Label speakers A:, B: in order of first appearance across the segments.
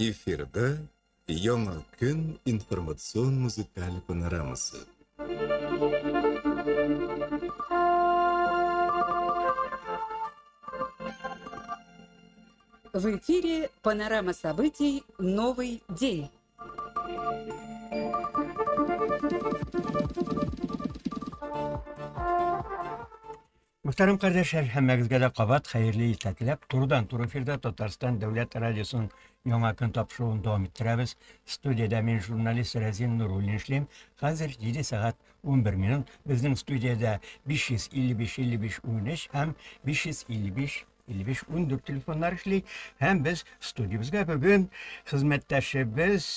A: Эфирда Яңа көн информацион музыкаль панорамасы.
B: В эфире панорама событий «Новый день».
C: Мөхтәрәм кардәшләр, һәммәгезгә дә кабат хәерле иртә теләп, турыдан-туры эфирда Татарстан дәүләт радиосының яңа көн тапшыруын дәвам иттерәбез. Студиядә мин журналист Рәзин Нуруллин эшлим. Хәзер 7 сәгать 11 минут. Безнең студиядә 555-5513 һәм 555 55-14 телефоннар эшли. Һәм без студиябезгә бүген хезмәттәшебез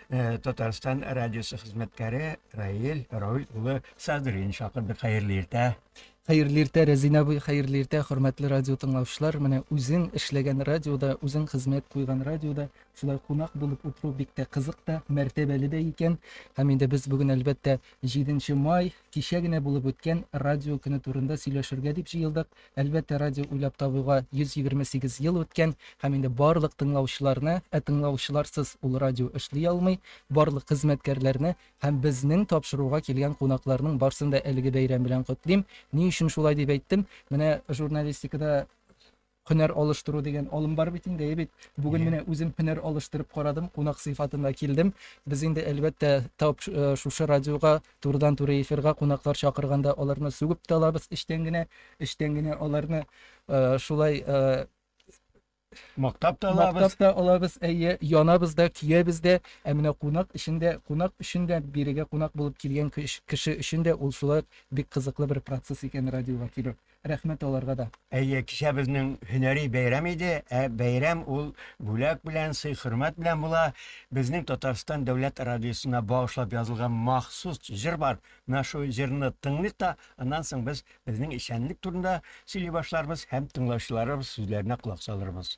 C: э, Татарстан радиосы хезмәткәре Раил Рауль улы Садрин чакырдык. Хәерле иртә. Хәерле иртә,
D: Рәзинә абый, хәерле иртә, хөрмәтле радио тыңлаучылар. Менә үзең эшләгән радиода, үзең хезмәт куйган радиода шулай кунак булып утыру бик тә кызык та, мәртәбәле дә икән. Һәм инде без бүген әлбәттә 7 май кичә генә булып үткән радио көне турында сөйләшергә дип җыелдык. Әлбәттә, радио уйлап табуга 128 ел үткән һәм инде барлык тыңлаучыларны, ә тыңлаучыларсыз ул радио эшли алмый, барлык хезмәткәрләрне һәм безнең тапшыруга килгән кунакларның барсын да әлеге бәйрәм белән котлыйм. Ни өчен шулай дип әйттем? Менә журналистикада һөнәр алыштыру дигән алым бар бит инде, әйе бит? Бүген менә үзем һөнәр алыштырып карадым, кунак сыйфатында килдем. Без инде, әлбәттә, тап э, шушы радиога Турыдан-туры эфирга кунаклар чакырганда аларны сүгеп тә алабыз эчтән генә, эчтән генә аларны шулай
C: Мактап та алабыз. Мактап та алабыз, әйе,
D: янабыз да, көябез дә. Ә менә кунак өчен дә, кунак өчен дә, бирегә кунак булып килгән кеше өчен дә ул шулай бик кызыклы бер процесс икән радиога килү. Рәхмәт аларга да. Әйе, кичә безнең
C: һөнәри бәйрәм иде, ә бәйрәм ул бүләк белән, сый-хөрмәт белән була. Безнең Татарстан дәүләт радиосына багышлап язылган махсус җыр бар. Менә шул җырны тыңлыйк та, аннан соң без безнең эшчәнлек турында сөйли башларбыз һәм тыңлаучыларыбыз сүзләренә колак салырбыз.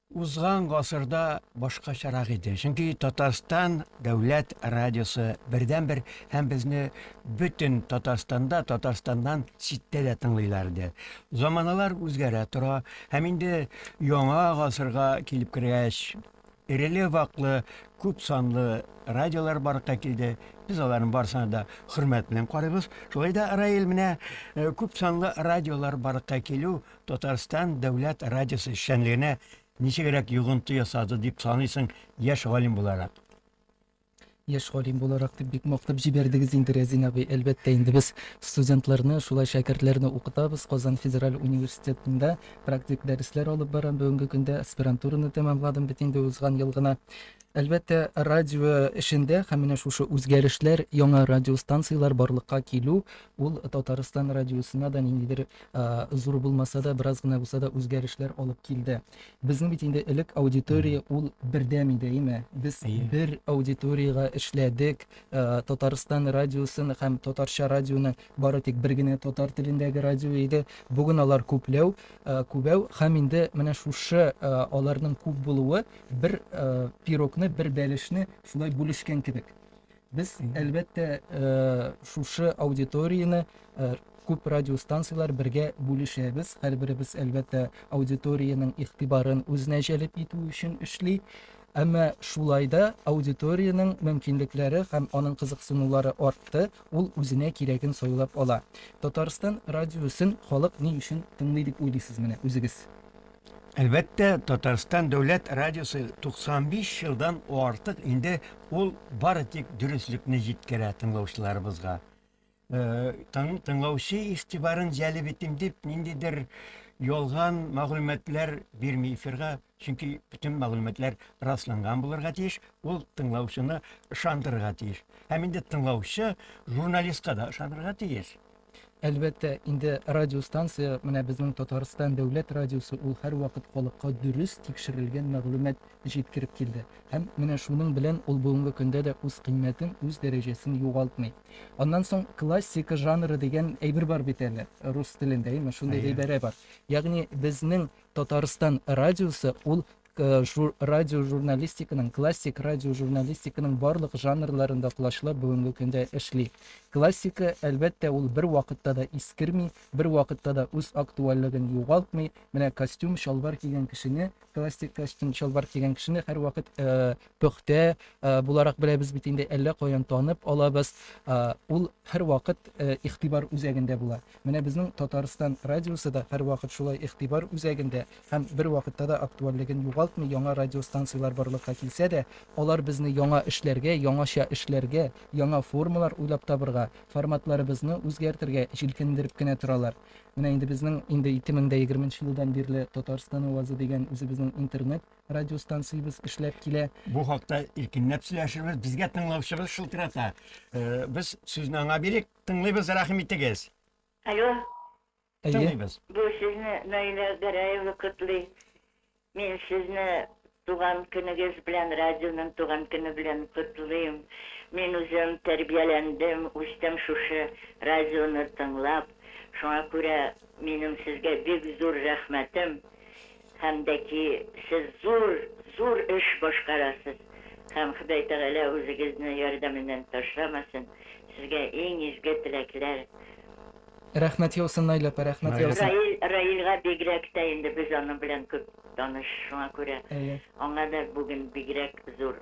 C: Узган гасырда башкачарак иде, чөнки Татарстан дәүләт радиосы бердәнбер һәм безне бөтен Татарстанда, Татарстаннан читтә дә тыңлыйлар иде. Заманалар үзгәрә тора һәм инде яңа гасырга килеп кергәч, эреле-ваклы, күп санлы радиолар барлыкка килде, без аларның барысына да хөрмәт белән карыйбыз. Шулай да, Раил, менә күп санлы радиолар барлыкка килү, Татарстан дәүләт радиосы эшчәнлегенә ничегрәк йогынты ясады дип саныйсың яшь галим буларак?
D: Яшь галим буларак дип бик мактап җибәрдегез инде, Рәзин абый. Әлбәттә инде, без студентларны, шулай шәкертләрне укытабыз. Казан федераль университетында практик дәресләр алып барам бүгенге көндә. Аспирантураны тәмамладым бит инде узган ел гына. Әлбәттә, радио эшендә һәм менә шушы үзгәрешләр, яңа радиостанцияләр барлыкка килү, ул Татарстан радиосына да ниндидер зур булмаса да, бераз гына булса да үзгәрешләр алып килде. Безнең бит инде элек аудитория ул бердәм иде, әйме? Без бер аудиториягә эшләдек. Татарстан радиосын һәм татарча радионы бары тик бер генә татар телендәге радио иде. Бүген алар күпләү, күбәү һәм инде менә шушы аларның күп булуы бер пирогны, бер бәлешне шулай бүлешкән кебек. Без, әлбәттә, шушы аудиторияне күп радиостанцияләр бергә бүлешәбез. Һәрберебез, әлбәттә, аудиториянең игътибарын үзенә җәлеп итү өчен эшли. Әмма шулай да аудиториянең мөмкинлекләре һәм аның кызыксынулары артты, ул үзенә кирәген сайлап ала. Татарстан радиосын халык ни өчен тыңлый дип уйлыйсыз менә үзегез? Әлбәттә,
C: Татарстан дәүләт радиосы 95 елдан артык инде ул бары тик дөреслекне җиткерә тыңлаучыларыбызга. Тың, тыңлаучы игътибарын җәлеп итим дип, ниндидер ялган мәгълүматлар бирми эфирга, чөнки бөтен мәгълүматлар расланган булырга тиеш, ул тыңлаучыны ышандырырга тиеш. Һәм инде тыңлаучы журналистка да ышанырга тиеш. Әлбәттә,
D: инде радиостанция, менә безнең Татарстан дәүләт радиосы, ул һәрвакыт халыкка дөрес, тикшерелгән мәгълүмат җиткереп килде. Һәм менә шуның белән ул бүгенге көндә дә үз кыйммәтен, үз дәрәҗәсен югалтмый. Аннан соң классика жанры дигән әйбер бар бит әле, рус телендә, әйеме, шундый гыйбарә бар. Ягъни безнең Татарстан радиосы, ул Жур, радиожурналистиканың, классик радиожурналистиканың барлык жанрларында колачлар бүгенге көндә эшли. Классика, әлбәттә, ул бер вакытта да искерми, бер вакытта да үз актуальлеген югалтмый. Менә костюм, чалбар кигән кешене, классик костюм, чалбар кигән кешене һәрвакыт э, пөхтә буларак беләбез бит инде, әллә каян танып алабыз, ул һәрвакыт игътибар үзәгендә була. Менә безнең Татарстан радиосы да һәрвакыт шулай игътибар үзәгендә һәм бервакытта да актуальлеген югалтмый, яңа радиостанцияләр барлыкка килсә дә, алар безне яңа эшләргә, яңача эшләргә, яңа формалар уйлап табырга, форматларыбызны үзгәртергә җилкендереп кенә торалар. Менә инде безнең инде ике мең дә егерменче елдан бирле Татарстан авазы дигән үзебезнең интернет радиостанциябез эшләп килә. Бу хакта
C: иркенләп сөйләшербез. Безгә тыңлаучыбыз шылтырата. Э, без сүзне аңа бирик. Тыңлыйбыз, рәхим итегез. Алло.
E: Тыңлыйбыз.
C: Бу сезне
E: Наилә Гәрәева котлый. Мин сезне туган көнегез белән, радионың туган көне белән котлыйм. Мин үзем тәрбияләндем, үстем шушы радионы тыңлап. Шуңа күрә минем сезгә бик зур рәхмәтем. Һәм дә ки сез зур, зур эш башкарасыз, һәм Ходай Тәгалә үзегезне ярдәменнән ташламасын, сезгә иң изге теләкләр.
D: Рәхмәт яусын Наил апа, рәхмәт яусын. Раил, Раилга бигрәк
E: тә инде без аның белән күп таныш, шуңа күрә аңа да бүген бигрәк зур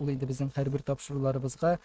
D: Ул инде безнең һәрбер тапшыруларыбызга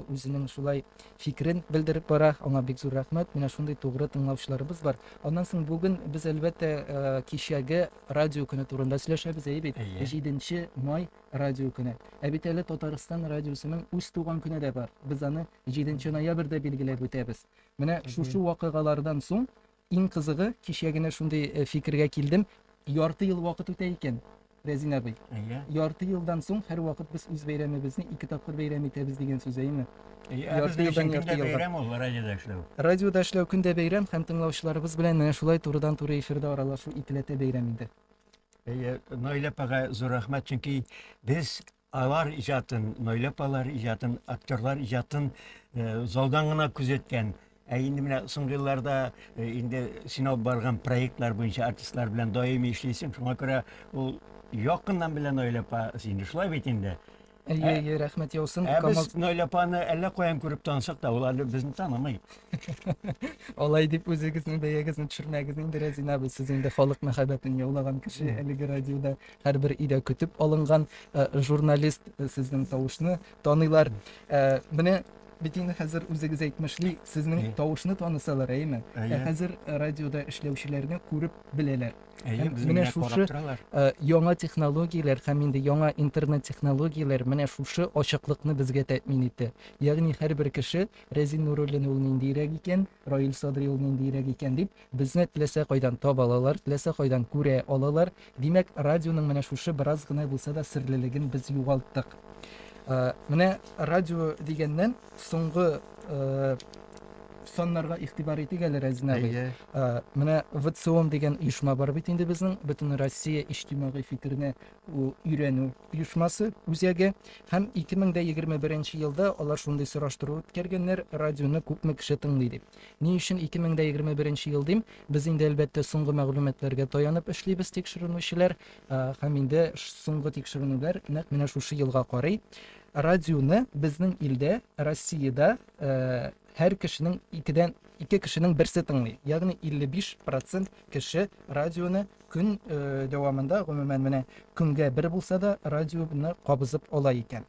D: үзенең шулай фикерен белдереп бара. Аңа бик зур рәхмәт. Менә шундый тугры тыңлаучыларыбыз бар. Аннан соң бүген без әлбәттә кичәге радио көне турында сөйләшәбез, әйе бит? 7 май радио көне. Ә бит әле Татарстан радиосының үз туган көне дә бар. Без аны 7 ноябрьдә билгеләп үтәбез. Менә шушы вакыйгалардан соң Иң кызыгы, кичә генә шундый э, фикергә килдем, ярты ел вакыт үтә икән, Рәзин абый. Әйе. Ярты
C: елдан соң
D: һәрвакыт без үз бәйрәмебезне ике тапкыр бәйрәм итәбез дигән сүз, әйеме? Әйе, ә Ярты безнең елдан өчен
C: ярты көн дә елга. бәйрәм
D: ул
C: радиода
D: эшләү.
C: Радиода эшләү көн дә
D: бәйрәм һәм тыңлаучыларыбыз белән менә шулай турыдан-туры эфирда аралашу икеләтә бәйрәм инде. Әйе,
C: Наилә апага зур рәхмәт, чөнки без Алар иҗатын, Наилә апалар иҗатын, актерлар иҗатын залдан гына күзәткән. Ә инде менә соңгы елларда инде син алып барган проектлар буенча артистлар белән даими эшлисең. Шуңа күрә ул якыннан белә Наилә апа сине. Шулай бит инде. Әйе, әйе, рәхмәт
D: яусын. Ә Камал... без Наилә апаны
C: әллә каян күреп тансак та, ул әле безне танымый.
D: Алай дип үзегезнең бәягезне төшермәгез инде, Рәзинә абый, сез инде халык мәхәббәтен яулаган кеше, әлеге радиода Һәрбер өйдә көтеп алынган журналист сезнең тавышны таныйлар. Менә бит инде хәзер үзегез әйтмешли, сезнең тавышны танысалар, әйеме? Ә хәзер радиода эшләүчеләрне күреп беләләр. Әйе, менә шушы яңа технологияләр һәм инде яңа интернет технологияләр менә шушы ачыклыкны безгә тәэмин итте. Ягъни һәрбер кеше Рәзин Нуруллин ул ниндирәк икән, Раил Садри ул ниндирәк икән дип Безне теләсә кайдан таба алалар, теләсә кайдан күрә алалар. Димәк, радионың менә шушы бераз гына булса да серлелеген без югалттык. Менә радио дигәннән, соңгы саннарга игътибар итик әле, Рәзин абый. Менә ВЦИОМ дигән оешма бар бит инде безнең, Бөтенроссия иҗтимагый фикерне өйрәнү оешмасы, үзәге. Һәм 2021 елда алар шундый сораштыру үткәргәннәр, радионы күпме кеше тыңлый дип. Ни өчен 2021 нче ел дим? Без инде, әлбәттә, соңгы мәгълүматларга таянып эшлибез, тикшеренүчеләр, һәм инде соңгы тикшеренүләр нәкъ менә шушы елга карый. Радионы безнең илдә, Россиядә һәр кешенең икедән ике кешенең берсе тыңлый. Ягъни 55 процент кеше радионы көн дәвамында, гомумән, менә көнгә бер булса да радионы кабызып ала икән.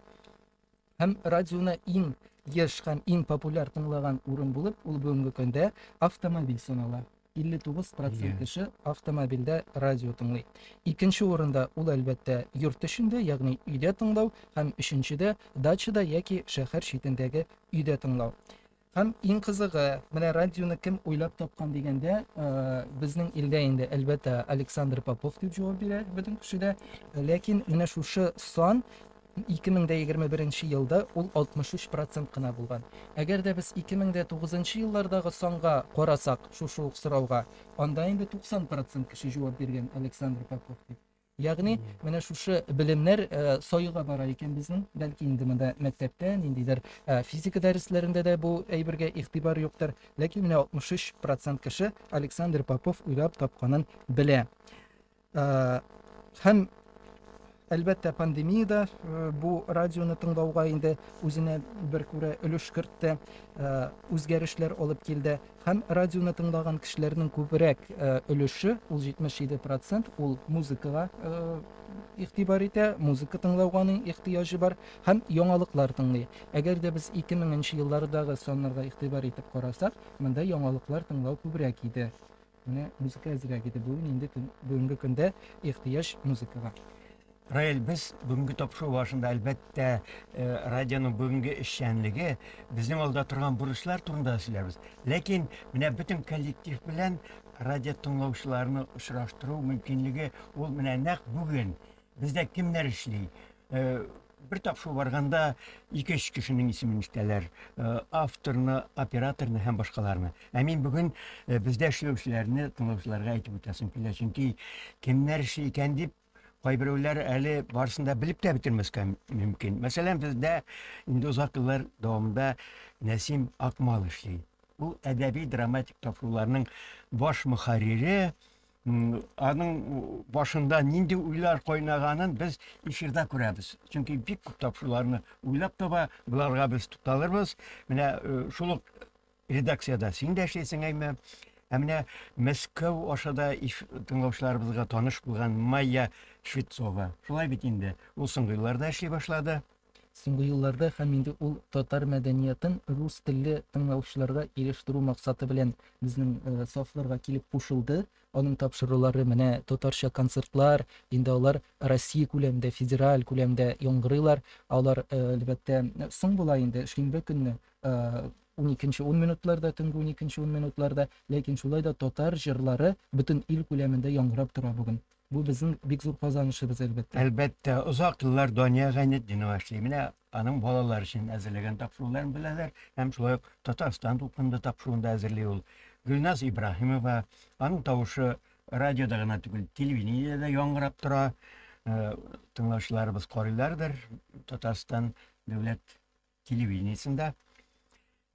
D: Һәм радионы иң еш һәм иң популяр тыңлаган урын булып ул бүгенге көндә автомобиль санала. 59 процент кеше автомобильдә радио тыңлый. Икенче урында ул, әлбәттә, йорт эчендә, ягъни өйдә тыңлау, һәм өченчедә дачада яки шәһәр читендәге өйдә тыңлау. Һәм иң кызыгы, менә радионы кем уйлап тапкан дигәндә, э, безнең илдә инде, әлбәттә, Александр Попов дип җавап бирә бөтен кеше дә. Ләкин менә шушы сан 2021 елда ул 63 процент кына булган. Әгәр дә без 2009 еллардагы санга карасак, шушы ук сорауга, анда инде 90 процент кеше җавап биргән Александр Попов дип. Ягъни, менә шушы белемнәр союга бара икән безнең. Бәлки инде монда мәктәптә, ниндидер физика дәресләрендә дә бу әйбергә игътибар юктыр. Ләкин менә 63 процент кеше Александр Попов уйлап тапканын белә. Һәм Әлбәттә, пандемия да э, бу радионы тыңлауга инде үзенә бер күрә өлеш кертте, э, үзгәрешләр алып килде. Һәм радионы тыңлаган кешеләрнең күбрәк өлеше, ул 77 процент, ул музыкага игътибар итә, музыка тыңлауга аның ихтыяҗы бар һәм яңалыклар тыңлый. Әгәр дә без 2000 нче еллардагы саннарга игътибар итеп карасак, монда яңалыклар тыңлау күбрәк иде. Менә музыка әзрәк иде. Бүген инде бүгенге көндә ихтыяҗ музыкага. Раэль,
C: без бүгенге тапшыру барышында, әлбәттә, э, радионың бүгенге эшчәнлеге, безнең алда торган бурычлар турында сөйләрбез. Ләкин менә бөтен коллектив белән радио тыңлаучыларны очраштыру мөмкинлеге ул менә нәкъ бүген. Бездә кемнәр эшли? Э, бер тапшыру барганда ике өч кешенең исемен ишетәләр. Э, авторны, операторны һәм башкаларны. Ә мин бүген бездә эшләүчеләрне тыңлаучыларга әйтеп үтәсем килә, чөнки кемнәр эшли икән дип Кайберәүләр әле барысын да белеп тә бетермәскә мөмкин. Мәсәлән, бездә инде озак еллар дәвамында Нәсим Акмал эшли. Ул әдәби-драматик тапшыруларның баш мөхәррире, аның башында нинди уйлар кайнаганын без эфирда күрәбез. Чөнки бик күп тапшыруларны уйлап таба, боларга без тукталырбыз. Менә э, шул ук Редакциядә син дә эшлисең әйме? Ә менә Мәскәү аша да иш тыңлаучыларыбызга таныш булган Майя Швецова. Шулай бит инде, ул соңгы елларда эшли башлады. Соңгы елларда
D: һәм инде ул татар мәдәниятын рус телле тыңлаучыларга ирештерү максаты белән безнең сафларга килеп кушылды. Аның тапшырулары менә татарча концертлар, инде алар Россия күләмендә, федераль күләмдә яңгырыйлар. Алар, әлбәттә, соң була инде, шимбе көнне уникенче ун минутларда төнге уникенче ун минутларда ләкин шулай да татар җырлары бөтен ил күләмендә яңгырап тора бүген бу безнең бик зур казанышыбыз әлбәттә әлбәттә озак
C: еллар дания гайнетдинова эшли менә аның балалар өчен әзерләгән тапшыруларын беләләр һәм шулай ук татарстан дулкынында тапшыруын да әзерли ул гөлназ ибраһимова аның тавышы радиода гына түгел телевидениедә яңгырап тора э, тыңлаучыларыбыз карыйлардыр татарстан дәүләт телевидениесендә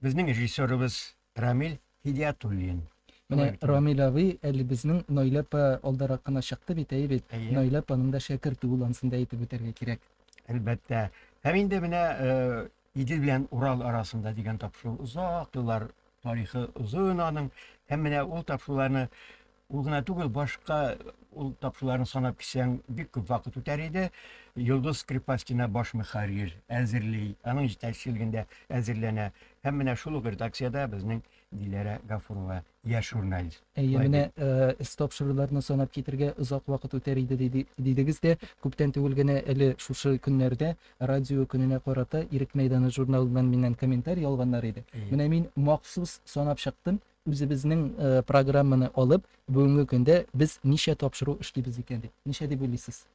C: безнең режиссерыбыз Рамил Һидиятуллин. Менә
D: Рамил абый әле безнең Наилә апа алдарак кына чыкты бит, әйе бит? Наилә апаның да шәкерте ул, ансын да әйтеп үтәргә кирәк. Әлбәттә.
C: Һәм инде менә Идел белән Урал арасында дигән тапшыру озак еллар тарихы озын аның. Һәм менә ул тапшыруларны Ул гына түгел, башка ул тапшыларын санап кисәң, бик күп вакыт үтәр иде. Йолдыз Скрипастина баш мөхәррир әзерли, аның җитәкчелегендә әзерләнә. Һәм менә шул ук редакциядә безнең Диләрә Гафурова, яшь журналист. Әйе, менә
D: эс тапшыруларны санап китергә озак вакыт үтәр иде дидегез дә, күптән түгел генә әле шушы көннәрдә радио көненә карата Ирек мәйданы журналыннан миннән комментарий алганнар иде. Менә мин махсус санап чыктым, Үзебезнең программаны алып, бүгенге көндә без ничә тапшыру эшлибез икән дип, ничә дип уйлыйсыз?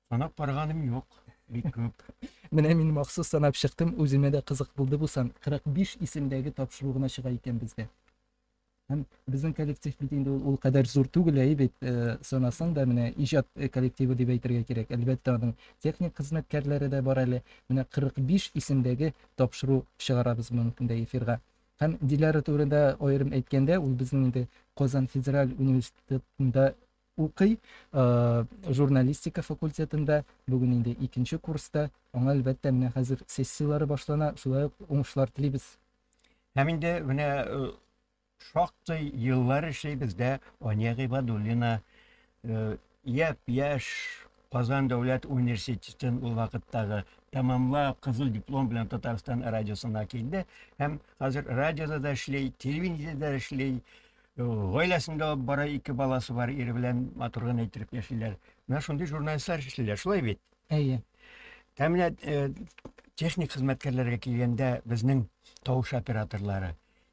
C: Санап караганым юк, бик күп. Менә мин
D: махсус санап чыктым, үземә дә кызык булды бу сан. 45 исемдәге тапшыру гына чыга икән бездә. Һәм безнең коллектив бит инде ул кадәр зур түгел, әйе бит, санасаң да, менә иҗат коллективы дип әйтергә кирәк. Әлбәттә, аның техник хезмәткәрләре дә бар әле. Менә 45 исемдәге тапшыру чыгарабыз бүгенге көндә эфирга. Һәм Диләрә турында аерым әйткәндә, ул безнең инде Казан федераль университетында укый, журналистика факультетында, бүген инде икенче курста. Аңа, әлбәттә, менә хәзер сессияләре башлана, шулай ук уңышлар телибез. Һәм инде
C: менә шактый еллар эшлибез дә Ания Гыйбадуллина Япь-яшь Казан дәүләт университетын ул вакыттагы тәмамлап, кызыл диплом белән Татарстан радиосына килде һәм хәзер радиода да эшли, телевидениедә дә эшли. Гаиләсендә бара ике баласы бар, ире белән матур гына итеп яшиләр. Менә шундый журналистлар эшлиләр, шулай бит? Әйе.
D: Ә менә э,
C: техник хезмәткәрләргә килгәндә безнең тавыш операторлары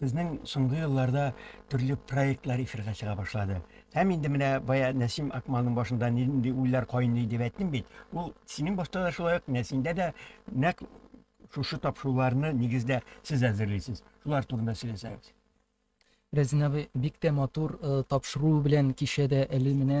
C: Безнең соңгы елларда төрле проектлар эфирга чыга башлады. Һәм инде менә бая Нәсим Акмалның башында нинди уйлар кайный дип әйттем бит. Ул синең башта да шулай ук Нәсимдә дә нәкъ шушы тапшыруларны нигездә сез әзерлисез. Шулар турында сөйләсәгез. Рәзин
D: абый, бик тә матур э, тапшыру белән кичәдә әле менә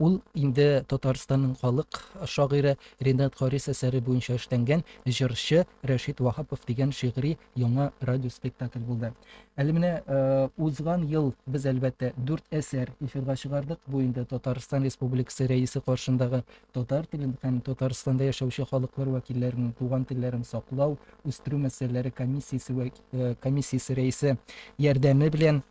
D: Ул инде Татарстанның халык шагыйре Ренат Харис әсәре буенча эшләнгән Җырчы Рәшит Ваһапов дигән шигъри яңа радиоспектакль булды. Әле менә узган ел без, әлбәттә, дүрт әсәр эфирга чыгардык. Бу инде Татарстан Республикасы Рәисе каршындагы татар телен һәм Татарстанда яшәүче халыклар вәкилләренең туган телләрен саклау, үстерү мәсьәләләре комиссиясе комиссиясе рәисе ярдәме белән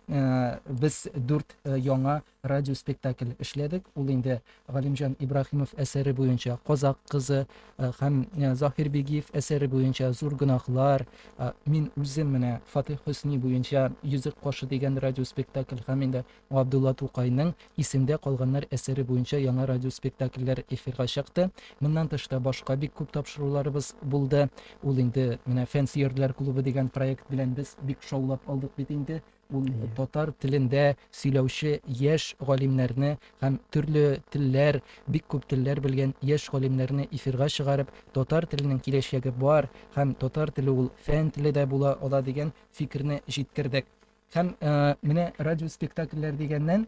D: без дүрт яңа радиоспектакль эшләдек. Ул инде Галимҗан Ибраһимов әсәре буенча Казак кызы һәм Заһир Бигиев әсәре буенча Зур гөнаһлар, мин үзем менә Фатих Хөсни буенча Йөзек кашы дигән радиоспектакль һәм инде Габдулла Тукайның Исемдә калганнар әсәре буенча яңа радиоспектакльләр эфирга чыкты. Моннан тыш та башка бик күп тапшыруларыбыз булды. Ул инде менә Фәнсиярләр клубы дигән проект белән без бик шаулап алдык бит инде. Ул татар телендә сөйләүче яшь галимнәрне һәм төрле телләр, бик күп телләр белгән яшь галимнәрне эфирга чыгарып, татар теленең киләчәге бар һәм татар теле ул фән теле дә була ала дигән фикерне җиткердек. Һәм менә радиоспектакльләр дигәннән,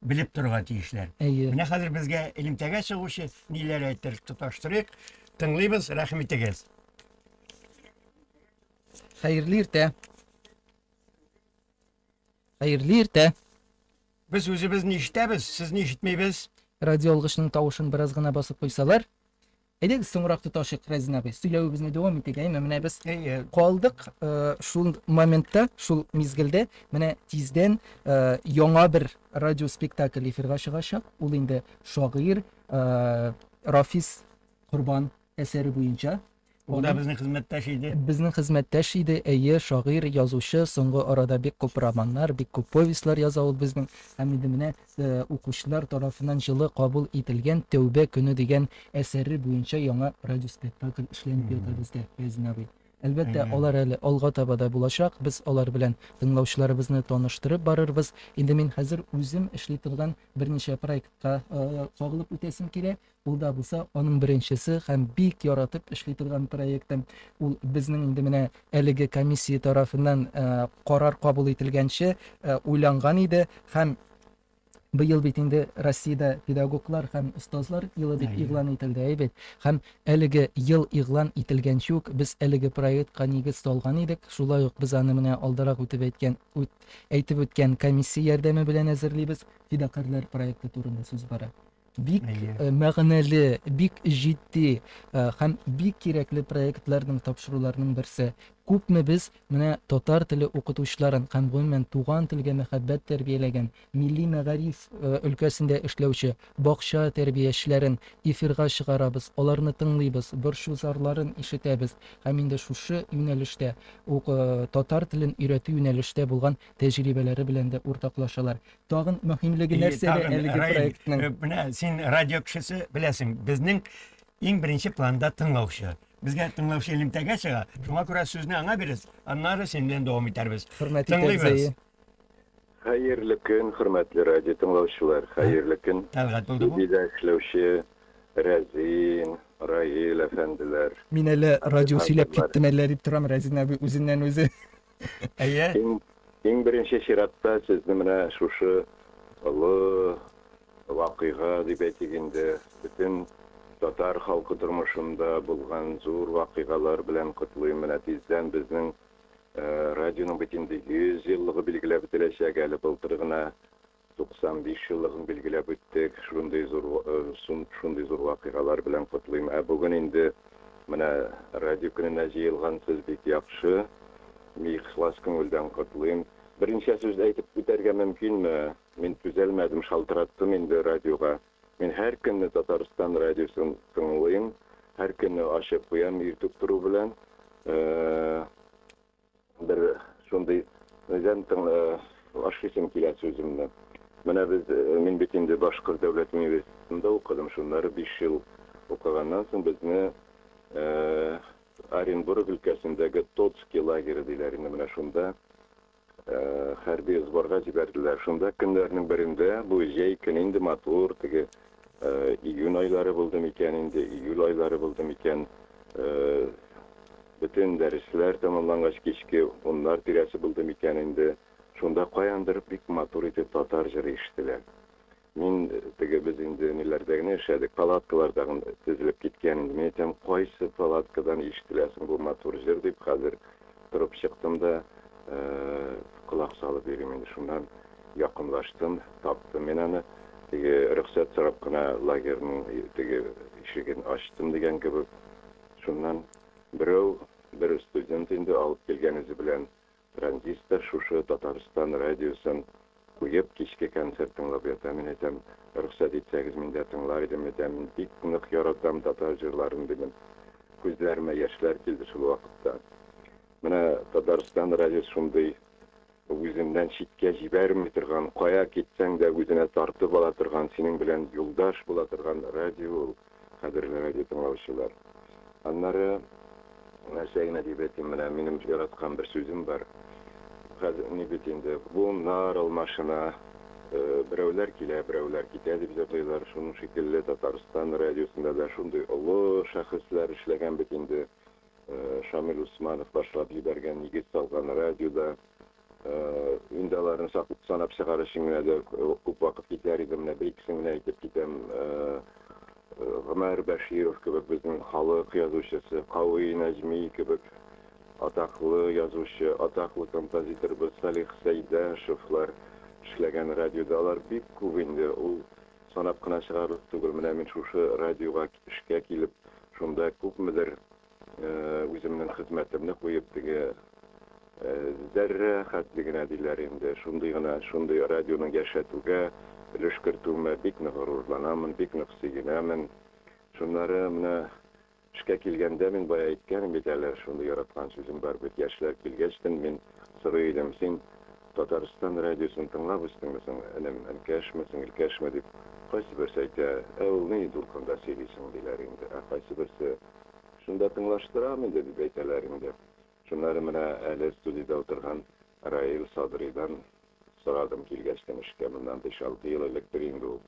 C: белеп торырга тиешләр. Әйе. Менә хәзер безгә элемтәгә чыгучы ниләр әйтер, тоташтырыйк, тыңлыйбыз, рәхим итегез.
D: Хәерле иртә. Хәерле иртә. Без
C: үзебезне ишетәбез, сезне ишетмибез. Радиоалгычның
D: тавышын бераз гына басып куйсалар. Әйдәгез, соңрак тоташыйк, Рәзин абый, сөйләвебезне дәвам итик, әйме, менә без калдык шул моментта, шул мизгелдә, менә тиздән яңа бер радиоспектакль эфирга чыгачак, ул инде шагыйрь Рафис Корбан әсәре буенча. Ул да безнең
C: хезмәттәш иде. Безнең хезмәттәш
D: иде, әйе, шагыйрь, язучы, соңгы арада бик күп романнар, бик күп повестьлар яза ул безнең. Һәм инде менә укучылар тарафыннан җылы кабул ителгән Тәүбә көне дигән әсәре буенча яңа радиоспектакль эшләнеп ята бездә, Фәйзин абый. Әлбәттә, Әйе. алар әле алга таба да булачак, без алар белән тыңлаучыларыбызны таныштырып барырбыз. Инде мин хәзер үзем эшли торган берничә проектка кагылып үтәсем килә. Ул да булса, аның беренчесе һәм бик яратып эшли торган проекты. Ул безнең инде менә әлеге комиссия тарафыннан карар кабул ителгәнче уйланган иде һәм Быел бит инде Россиядә педагоглар һәм остазлар елы дип игълан ителде, әй бит. Һәм әлеге ел игълан ителгәнче үк без әлеге проектка нигез салган идек. Шулай ук без аны менә алдарак үтеп әйткән, үт, әйтеп үткән комиссия ярдәме белән әзерлибез. Фидакарьләр проекты турында сүз бара. Бик Әйе. э, мәгънәле, бик җитди э, һәм бик кирәкле проектларның, тапшыруларның берсе. Күпме без менә татар теле укытучыларын һәм гомумән туган телгә мәхәббәт тәрбияләгән, милли мәгариф э, өлкәсендә эшләүче бакча тәрбиячеләрен эфирга чыгарабыз, аларны тыңлыйбыз, борчу зарларын ишетәбез һәм инде шушы юнәлештә ук э, татар телен өйрәтү юнәлештә булган тәҗрибәләре белән дә уртаклашалар. Тагын мөһимлеге нәрсәдә әлеге проектның? Э, менә син радио
C: кешесе беләсең, безнең иң беренче планда тыңлаучы. Безгә тыңлаучы элемтәгә чыга. Шуңа күрә сүзне аңа бирәс, аннары син белән дәвам итәрбез. Хөрмәт итәбез.
F: Хәерле көн, хөрмәтле радио тыңлаучылар. Хәерле көн. Тәлгат булды бу. Бизә
C: эшләүче
F: Рәзин, Раил әфәнделәр. Мин әле радио
D: сөйләп киттем әллә дип торам, Рәзин әби үзеннән үзе. Әйе.
C: Иң
F: беренче чиратта сезне менә шушы олы вакыйга дип әйтик инде, бөтен татар халкы тормышында булган зур вакыйгалар белән котлыйм. Менә тиздән безнең радионың бит инде 100 еллыгы билгеләп үтеләчәк әле. Былтыр гына 95 еллыгын билгеләп үттек, шундый зур шундый зур вакыйгалар белән котлыйм. Ә бүген инде менә радио көненә җыелгансыз, бик яхшы. Ихлас күңелдән котлыйм. Берничә сүз әйтеп үтәргә мөмкинме? Мин түзәлмәдем, шалтыраттым инде радиога. Мин һәр көнне Татарстан радиосын тыңлыйм, һәр көнне ачып куям иртүк тору белән. Бер шундый үзем тың ашыйсым килә сүземне. Менә без, мин бит инде Башкорт дәүләт университетында укыдым, шуннары биш ел укыганнан соң безне Оренбург өлкәсендәге Тоцки лагере диләр инде, менә шунда хәрби сборга җибәрделәр. Шунда көннәрнең берендә, бу җәй көне инде матур, теге июнь айлары булды микән инде, июль айлары булды микән, Бөтен дәресләр тәмамлангач кичке уннар тирәсе булды микән инде, шунда каяндыр бик матур итеп татар җыры ишетелә. Мин, теге без инде ниләрдә генә эшләдек, палаткаларда гын тезелеп киткән идем. Мин әйтәм, кайсы палаткадан ишетелә соң бу матур җыр дип, хәзер торып чыктым да, колак салып йөрим инде. Шуннан якынлаштым, таптым мин аны. Теге рөхсәт сорап кына лагерьның теге ишеген ачтым дигән кебек, Шуннан берәү, бер студент инде, алып килгән үзе белән транзистор, шушы Татарстан радиосын куеп, кичке концерт тыңлап ята. Мин әйтәм, рөхсәт итсәгез, мин дә тыңлар идем, әйтәм, мин бик нык яратам татар җырларын, дидем. Күзләремә яшьләр килде шул вакытта. Менә Татарстан радиосы шундый. Үзеннән читкә җибәрми торган, кая китсәң дә үзенә тартып ала торган, синең белән юлдаш була торган радио ул, кадерле радиотыңлаучылар. Аннары, нәрсә генә дип әйтим, менә минем яраткан бер сүзем бар. Хәзер ни бит инде, буыннар алмашына, берәүләр килә, берәүләр китә дип җырлыйлар, шуның шикелле Татарстан радиосында да шундый олы шәхесләр эшләгән бит инде, Шамил Усманов башлап җибәргән Нигез салган радио да, инде аларны санап чыгар өчен генә дә күп вакыт китәр иде, менә бер-икесен генә әйтеп китәм. Гомәр Бәширов кебек безнең халык язучысы, Кави Нәҗми кебек атаклы язучы, атаклы композиторыбыз Салих Сәйдәшевлар эшләгән радиода алар бик күп инде, ул Санап кына чыгарлык түгел, менә мин шушы радиога эшкә килеп, шунда күпмедер үземнең хезмәтемне куеп, теге зәррә хәтле генә диләр инде, шундый гына, шундый радионың яшәтүгә өлеш кертүемә бик нык горурланамын, бик нык сөенәмен. Шуннары менә Эшкә килгәндә, мин бая әйткәнем бит әле, шундый яраткан сүзем бар бит, яшьләр килгәч тен, мин сорый идем, син Татарстан радиосын тыңлап үстеңме соң, энем, энкәшме, сеңелкәшме дип, кайсы берсе әйтә, ә ул ни дулкында сөйли соң, диләр инде, ә кайсы берсе, Шунда тыңлаштырам инде, дип әйтәләр инде. Шуннары менә әле студиядә утырган Раил Садридан сорадым килгәч тә эшкә, моннан биш-алты ел электер инде ул.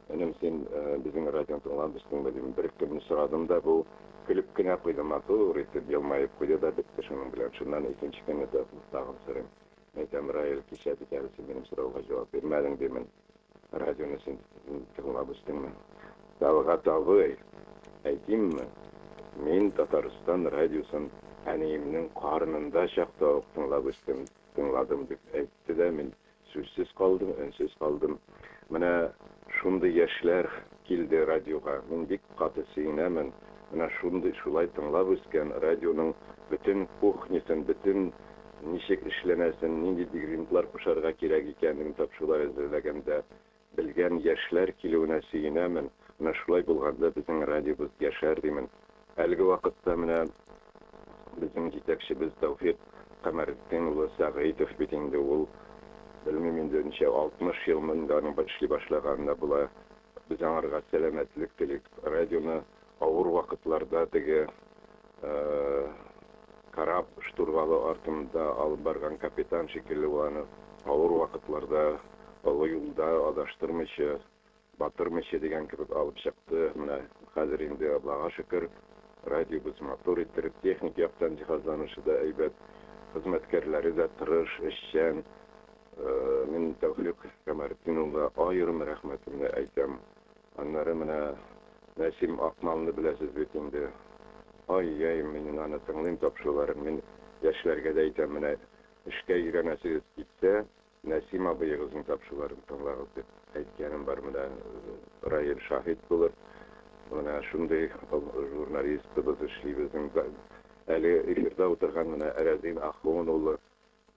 F: Энем, син безнең радионы тыңламыйсыңмы, дим. Бер-ике көнне сорадым да, бу көлеп кенә куйды, матур итеп елмаеп куйды да бетте шуның белән. Шуннан икенче көнне тагын сорыйм. Әйтәм, Раил, кичә бит әле син минем сорауга җавап бирмәдең, димен. Радионы син тыңлап үстеңме? Талгат абый, әйтимме, мин Татарстан радиосын әниемнең карынында чакта ук тыңлап үстем, тыңладым, дип әйтте дә, мин сүзсез калдым, өнсез калдым. Менә шундый яшьләр килде радиога, мин бик каты сөенәмен, менә шундый, шулай тыңлап үскән радионың бөтен кухнясын, бөтен ничек эшләнәсен, нинди дегринтлар кушарга кирәк икәнен тапшулай әзерләгәндә белгән яшьләр килүенә сөенәмен, менә шулай булганда безнең радиобыз яшәр димен. Әлеге вакытта менә безнең җитәкчебез Тәүфик Камәретдин улы Сәгыйтов бит инде ул, белмим инде ничә, 60 елмы инде аның эшли башлаганына була, без аңарга сәламәтлек телик, радионы Авыр вакытларда теге кораб штурвалы артында алып барган капитан шикелле ул аны. Авыр вакытларда олы юлда адаштырмыйча, батырмыйча дигән кебек алып чыкты. Менә хәзер инде, Аллага шөкер, радиобыз матур иттереп, техник яктан җиһазланышы да әйбәт, хезмәткәрләре дә тырыш, эшчән. Мин Тәүфыйк Камаретдин улына аерым рәхмәтемне әйтәм. Аннары менә Нәсим Акмалны беләсез бит инде. Ай-яй, минен аны тыңлыйм тапшыруларын, мин яшьләргә дә әйтәм, менә эшкә өйрәнәсегез китсә, Нәсим абыегызның тапшыруларын тыңлагыз дип әйткәнем бар, менә Раил шаһит булыр. Менә шундый журналистыбыз эшли безнең әле эфирда утырган менә Рәзин Ахун улы,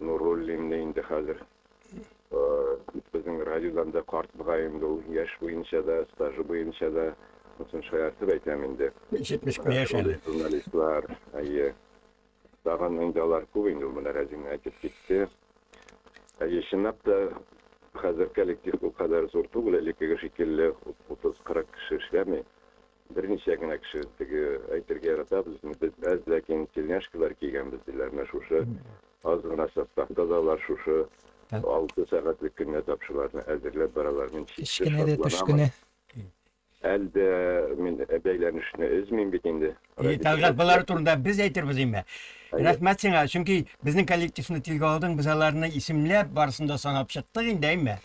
F: Нуруллинны инде хәзер безнең радиодан да карт мөгаен ул яшь буенча да, стажы буенча да, сосын шаяртып әйтәм инде. 71 яшь
C: әле. Журналистлар,
F: әйе. Тагын инде алар күп инде, ул менә Рәзин әйтеп китте. Әйе, чынлап та хәзер коллектив бу кадәр зур түгел, элеккеге шикелле 30-40 кеше эшләми. Берничә генә кеше теге әйтергә ярата, безне без әз, ләкин тельняшкалар кигәнбез, диләр. Менә шушы аз гына составта да алар шушы алты сәгатьлек көненә тапшыруларны әзерләп баралар. Мин чиксез шатланам.
D: Әле
F: дә мин бәйләнешне өзмим бит инде. И, Тәлгать, болар
C: турында без әйтербез инде. Рәхмәт сиңа, чөнки безнең коллективны телгә алдың, без аларны исемләп, барысын да санап чыктык инде, әйме?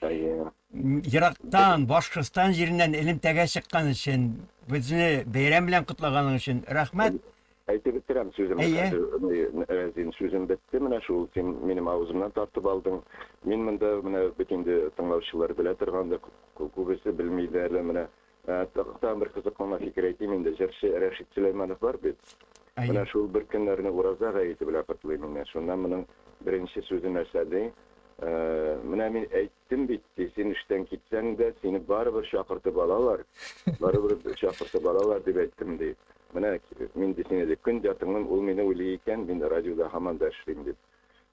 C: Ерактан, Башкортстан җиреннән элемтәгә чыккан өчен, безне бәйрәм белән котлаганың өчен рәхмәт. Әйтеп бетерәм
F: сүземне хәзер, Рәзин, сүзем бетте, менә шул, син минем авызымнан тартып алдың. Мин монда, менә бит инде тыңлаучылар белә торгандыр, күбесе белми дә әле, менә Тагын бер кызыклы фикер әйтим инде, җырчы Рәшит Сөләйманов бар бит. Әйе. Менә шул бер көннәрне Ураза гаете белән котлыйм инде. Шунда моның беренче сүзе нәрсә ди? Менә мин әйттем бит, ди, син эштән китсәң дә, сине барыбер чакыртып алалар, барыбер чакыртып алалар дип әйттем, ди. Менә мин ди сине, ди, көн дә тыңлыйм, ул мине уйлый икән, мин радиода һаман да эшлим, дип.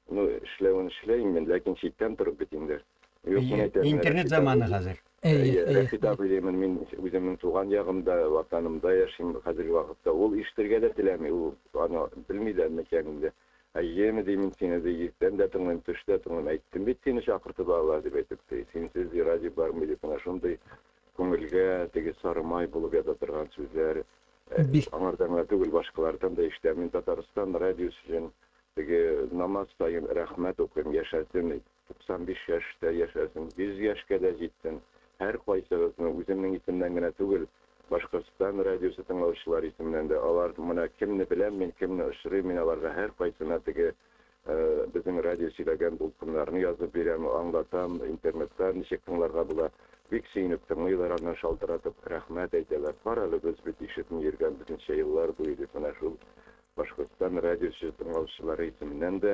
F: Ну, эшләвен эшләйм мин, ләкин читтән торып бит инде. Юк, мин әйтәм, интернет
C: заманы хәзер. Рәфидә абый
F: димин, мин үземнең туган ягымда, ватанымда яшим хәзерге вакытта. Ул ишетергә дә теләми, ул аны белми дә микән инде. Әйеме, ди, мин сине, ди, иртән дә тыңлыйм, төш тә тыңлыйм. Әйттем бит сине чакыртып алалар дип әйтеп, ди. Синсез, ди, радио бармый дип, менә шундый күңелгә теге сары май булып ята торган сүзләр. Аңардан гына түгел, башкалардан да ишетәм. Мин Татарстан радиосы өчен теге намаз саен рәхмәт укыйм, яшәсен, 95 яшьтә яшәсен, 100 яшькә дә җитсен! Һәркайсыгызны, үземнең исемнән генә түгел, Башкортстан радиосы тыңлаучылары исеменнән дә, алар менә кемне беләм мин, кемне очрыйм мин аларга һәркайсына теге безнең радио сөйләгән дулкыннарны язып бирәм, аңлатам, интернетта ничек тыңларга була. Бик сөенеп тыңлыйлар, аннан шалтыратып рәхмәт әйтәләр. Карале, без бит ишетми йөргән безничә еллар буе дип, менә шул Башкортстан радиосы тыңлаучылары исеменнән дә,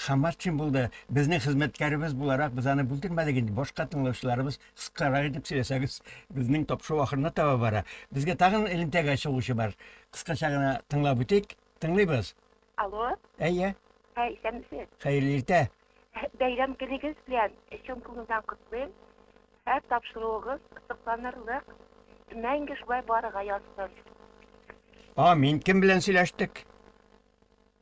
C: Хаматшин булды. Безнең хезмәткәребез буларак без аны бүлдермәдек инде. Башка тыңлаучыларыбыз кыскарак итеп сөйләсәгез, безнең тапшыру ахырына таба бара. Безгә тагын элемтәгә чыгучы бар. Кыскача гына тыңлап үтик. Тыңлыйбыз. Алло. Әйе.
G: Ә, исәнмесез. Хәерле иртә.
C: Бәйрәм
G: көнегез белән чын күңелдән котлыйм. Һәр тапшыруыгыз сокланырлык. Мәңге шулай барырга язсын.
C: Амин. Кем белән сөйләштек?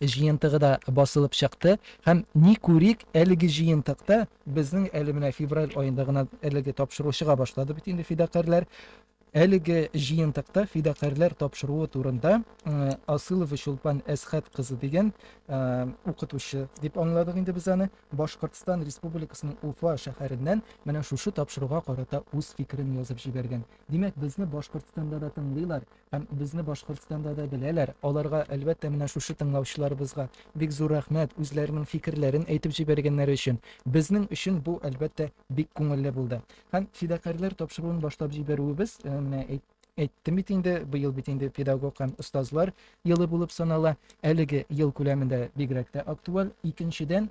D: Җыентыгы да басылып чыкты һәм ни күрик, әлеге җыентыкта безнең әле менә февраль аенда гына әлеге тапшыру чыга башлады бит инде фидакарьләр. Әлеге җыентыкта фидакарьләр тапшыруы турында Асылова Чулпан Әсхәт кызы дигән укытучы дип аңладык инде без аны, Башкортстан Республикасының Уфа шәһәреннән менә шушы тапшыруга карата үз фикерен язып җибәргән. Димәк, безне Башкортстанда да тыңлыйлар, Һәм безне Башкортстанда да беләләр. Аларга, әлбәттә, менә шушы тыңлаучыларыбызга бик зур рәхмәт, үзләренең фикерләрен әйтеп җибәргәннәре өчен. Безнең өчен бу, әлбәттә, бик күңелле булды. Һәм фидакарьләр тапшыруын башлап җибәрүебез, менә әйт, әйттем бит инде, быел бит инде педагог һәм остазлар елы булып санала. Әлеге ел күләмендә бигрәк тә актуаль. Икенчедән,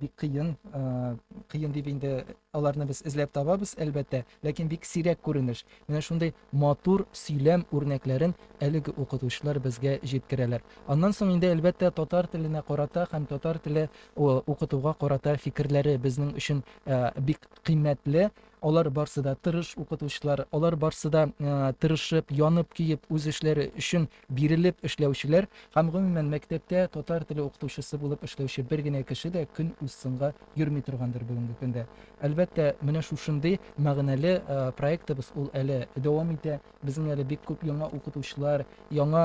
D: бик кыен кыен дип инде аларны без эзләп табабыз әлбәттә ләкин бик сирәк күренеш менә шундый матур сөйләм үрнәкләрен әлеге укытучылар безгә җиткерәләр аннан соң инде әлбәттә татар теленә карата һәм татар теле укытуга карата фикерләре безнең өчен бик кыйммәтле алар барсы да тырыш укытучылар алар барсы да тырышып янып көеп үз эшләре өчен Бирелеп эшләүчеләр һәм, гомумән, мәктәптә татар теле укытучысы булып эшләүче бер генә кеше дә көн узсынга йөрми торгандыр бүгенге көндә. Әлбәттә, менә шушындый мәгънәле проектыбыз ул әле дәвам итә. Безнең әле бик күп яңа укытучылар, яңа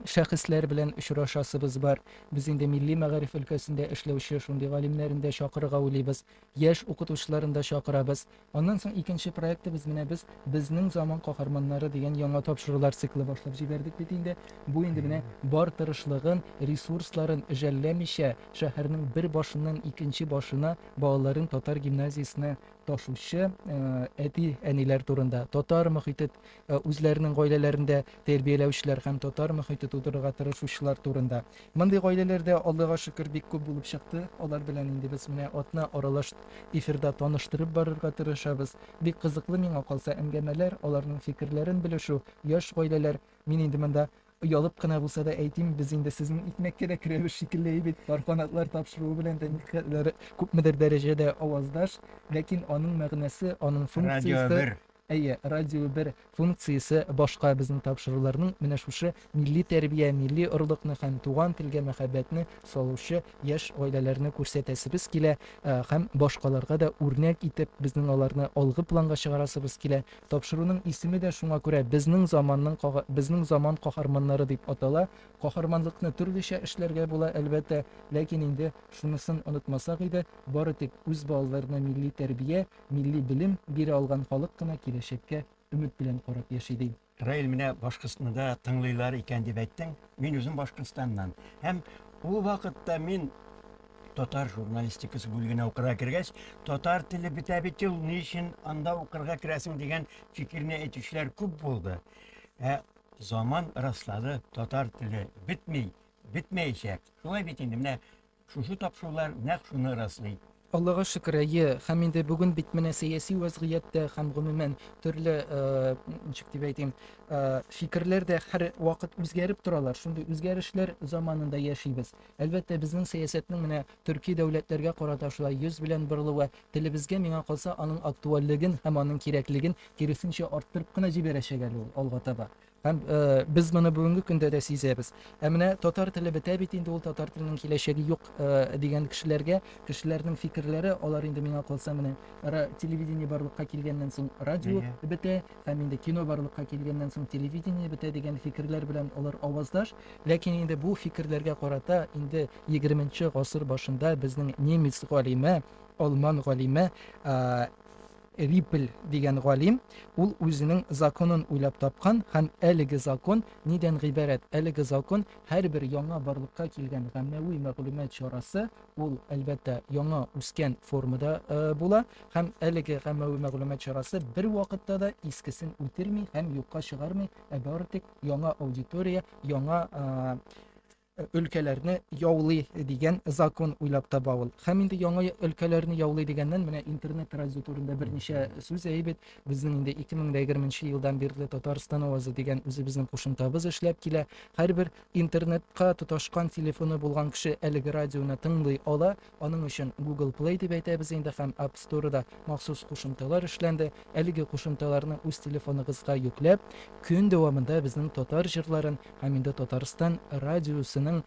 D: шәхесләр белән очрашасыбыз бар. Без инде милли мәгариф өлкәсендә эшләүче шундый галимнәрен дә чакырырга уйлыйбыз. Яшь укытучыларын да чакырабыз. Аннан соң икенче проектыбыз менә без Безнең заман каһарманнары дигән яңа тапшырулар циклы башлап җибәрдек бит инде. Бу инде менә бар тырышлыгын, ресурсларын жәлләмичә, шәһәрнең бер башыннан икенче башына балаларын татар гимназиясенә ташучы әти-әниләр турында, татар мохитет үзләренең гаиләләрендә тәрбияләүчеләр һәм татар мөхите тудырырга тырышучылар турында. Мондый гаиләләр дә, Аллага шөкер, бик күп булып чыкты. Алар белән инде без менә атна аралаш эфирда таныштырып барырга тырышабыз. Бик кызыклы миңа калса әңгәмәләр, аларның фикерләрен белешү, яшь гаиләләр. Мин инде монда оялып кына булса да әйтим, без инде сезнең икмәккә дә керәбез шикелле әй бит, пар канатлар тапшыруы белән дә никадәр күпмедер дәрәҗәдә аваздаш, ләкин аның мәгънәсе, аның функциясе, Әйе, радио бер, функциясе башка, безнең тапшыруларның менә шушы милли тәрбия, милли орлыкны һәм туган телгә мәхәббәтне салучы яшь гаиләләрне күрсәтәсебез килә һәм башкаларга да үрнәк итеп, безнең аларны алгы планга чыгарасыбыз килә. Тапшыруның исеме дә шуңа күрә Безнең заманның кага Безнең заман каһарманнары дип атала. Каһарманлыкны төрлечә эшләргә була, әлбәттә, ләкин инде шунысын онытмасак иде, бары тик үз балаларына милли тәрбия, Милли белем бирә алган халык кына киләчәккә өмет белән карап яши, ди. Раил, менә Башкортстны
C: да тыңлыйлар икән дип әйттең. Мин үзем Башкортстаннан. Һәм ул вакытта мин татар журналистикасы бүлегенә укырга кергәч, татар теле бетә бит ул, ни өчен анда укырга керәсең дигән фикерне әйтүчеләр күп булды. Ә заман раслады, татар теле бетми, бетмәячәк. Шулай бит инде, менә Шушы тапшырулар нәкъ шуны раслый. Аллага шөкер,
D: әйе. Һәм инде бүген бит менә сәяси вәзгыять тә һәм гомумән төрле, ничек дип әйтим, фикерләр дә һәр вакыт үзгәреп торалар. Шундый үзгәрешләр заманында яшибез. Әлбәттә, безнең сәясәтнең менә төрки дәүләтләргә карата шулай йөз белән борылуы телебезгә, миңа калса, аның актуальлеген һәм аның кирәклеген киресенчә арттырып кына җибәрәчәк әле ул алга таба. Һәм без моны бүгенге көндә дә сизәбез. Ә менә татар теле бетә бит инде, ул татар теленең киләчәге юк дигән кешеләргә, кешеләрнең фикерләре, алар инде миңа калса менә телевидение барлыкка килгәннән соң радио бетә, һәм инде кино барлыкка килгәннән соң телевидение бетә дигән фикерләр белән алар аваздаш. Ләкин инде бу фикерләргә карата инде 20 нче гасыр башында безнең немец галиме, алман галиме Виппель дигән галим, ул үзенең законын уйлап тапкан һәм әлеге закон нидән гыйбарәт? Әлеге закон, һәрбер яңа барлыкка килгән гаммәви мәгълүмат чарасы, ул, әлбәттә, яңа үскән формада була, һәм әлеге гаммәви мәгълүмат чарасы бервакытта да искесен үтерми һәм юкка чыгармый, ә бары тик яңа аудитория, яңа өлкәләрне яулый дигән закон уйлап таба ул. Һәм инде яңа өлкәләрне яулый дигәннән менә интернет радио турында берничә сүз әйбит. Безнең инде 2020 елдан бирле Татарстан авазы дигән үзебезнең кушымтабыз эшләп килә. Һәрбер интернетка тоташкан телефоны булган кеше әлеге радионы тыңлый ала. Аның өчен Google Play дип әйтәбез инде һәм App Store да махсус кушымталар эшләнде. Әлеге кушымталарны үз телефоныгызга йөкләп, көн дәвамында безнең татар җырларын һәм инде Татарстан радиосының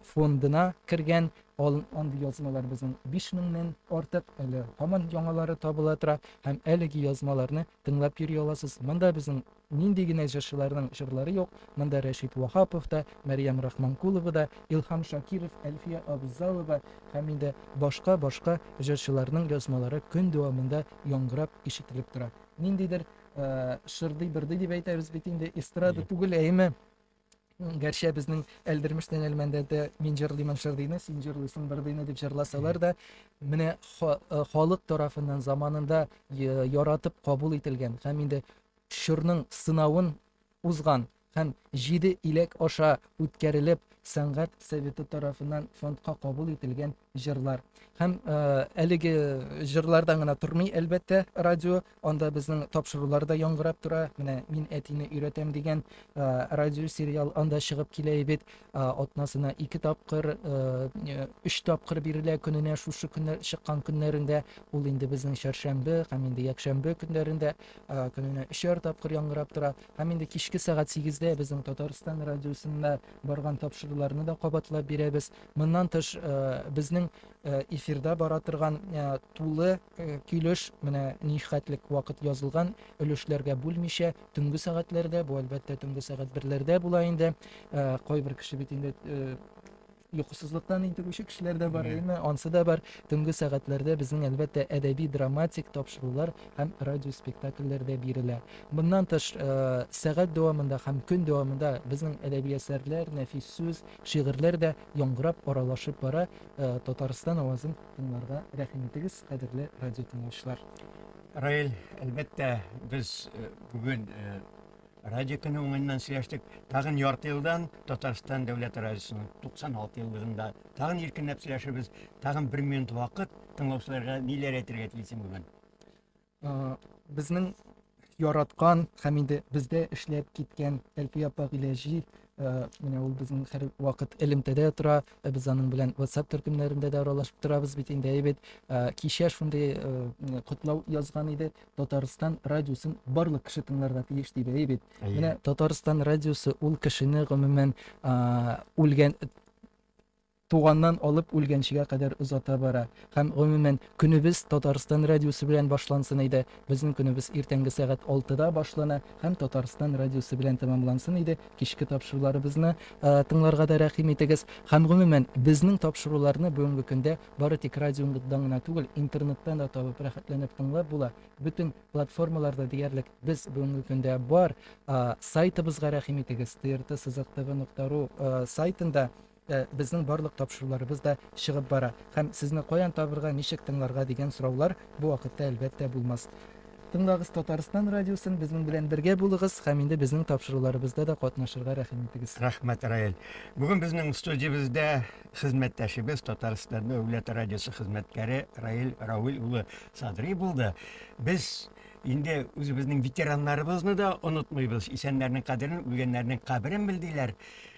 D: фондына кергән андый язмалар безнең биш меңнән артык, әле һаман яңалары табыла тора һәм әлеге язмаларны тыңлап йөри аласыз. Монда безнең Нинди генә җырчыларның җырлары юк, монда Рәшит Ваһапов та, Мәрьям Рахманкулова да, Илһам Шакиров, Әлфия Абзалова һәм инде башка-башка җырчыларның язмалары көн дәвамында яңгырап ишетелеп тора. Ниндидер шырдый-бырдый дип әйтәбез бит инде, эстрада түгел, әйеме? Гәрчә безнең Әлдермештән Әлмәндәдә мин җырлыймын шырдыйны, син җырлыйсың бырдыйны дип җырласалар да, менә э, халык тарафыннан заманында э, яратып кабул ителгән һәм инде чорның сынавын узган һәм җиде иләк аша үткәрелеп сәнгать советы тарафыннан фондка кабул ителгән җырлар һәм э, әлеге җырлардан гына тормый әлбәттә радио анда безнең тапшырулар да яңгырап тора менә мин әтине өйрәтәм дигән э, радио сериал анда чыгып килә бит э, атнасына ике тапкыр өч тапкыр бирелә көненә шушы көннәр чыккан көннәрендә ул инде безнең чәршәмбе һәм инде якшәмбе көннәрендә көненә өчәр тапкыр яңгырап тора һәм инде кичке сәгать сигездә безнең татарстан радиосында барган тапшыруларны да кабатлап бирәбез Моннан тыш, безнең эфирда бара торган тулы килеш, менә нихәтлек вакыт язылган, өлешләргә бүлмичә, төнге сәгатьләрдә, бу әлбәттә төнге сәгать берләрдә була инде. Кайбер кеше бит инде йокысызлыктан интегүче кешеләр дә бар, әйме? Ансы да бар. Төнге сәгатьләрдә безнең әлбәттә әдәби-драматик тапшырулар һәм радиоспектакльләр дә бирелә. Моннан тыш, сәгать дәвамында һәм көн дәвамында безнең әдәби әсәрләр, нәфис сүз, Шигырьләр дә яңгырап, аралашып бара. Татарстан авазын тыңларга рәхим итегез, кадерле радиотыңлаучылар. Раил,
C: әлбәттә, без э, бүген э, радио көне уңыннан сөйләштек. Тагын ярты елдан Татарстан дәүләт радиосының 96 еллыгында тагын иркенләп сөйләшербез. Тагын бер минут вакыт тыңлаучыларга ниләр әйтергә телисең бүген?
D: безнең яраткан һәм инде бездә эшләп киткән Әлфия апа Гыйләҗи менә ул безнең һәр вакыт элемтәдә тора без аның белән WhatsApp төркемнәрендә дә аралашып торабыз бит инде әйбәт кичә шундый котлау язган иде Татарстан радиосын барлык кеше тыңларга тиеш диде әйбәт менә Татарстан радиосы ул кешене гомумән үлгән туганнан алып үлгәнчегә кадәр озата бара. Һәм, гомумән, көнебез Татарстан радиосы белән башлансын иде. Безнең көнебез иртәнге сәгать алтыда башлана һәм Татарстан радиосы белән тәмамлансын иде. Кичке тапшыруларыбызны тыңларга да рәхим итегез. Һәм, гомумән, безнең тапшыруларны бүгенге көндә бары тик радионыдан гына түгел, интернеттан да табып, рәхәтләнеп тыңлап була. Бөтен платформаларда диярлек без бүгенге көндә бар. Сайтыбызга рәхим итегез, trtsызыктв нокта ру сайтында Ә безнең барлык тапшыруларыбыз да чыгып бара. Һәм сезне каян табырга, ничек тыңларга дигән сораулар бу вакытта әлбәттә булмас. Тыңлагыз Татарстан радиосын, безнең белән бергә булыгыз һәм инде безнең тапшыруларыбызда да катнашырга рәхим итегез. Рәхмәт, Раэль.
C: Бүген безнең студиябездә хезмәттәшебез, Татарстан дәүләт радиосы хезмәткәре Раэль Рауил улы Садри булды. Без инде үзебезнең ветераннарыбызны да онытмыйбыз. Исәннәрнең кадерен, үлгәннәрнең каберен бел, диләр.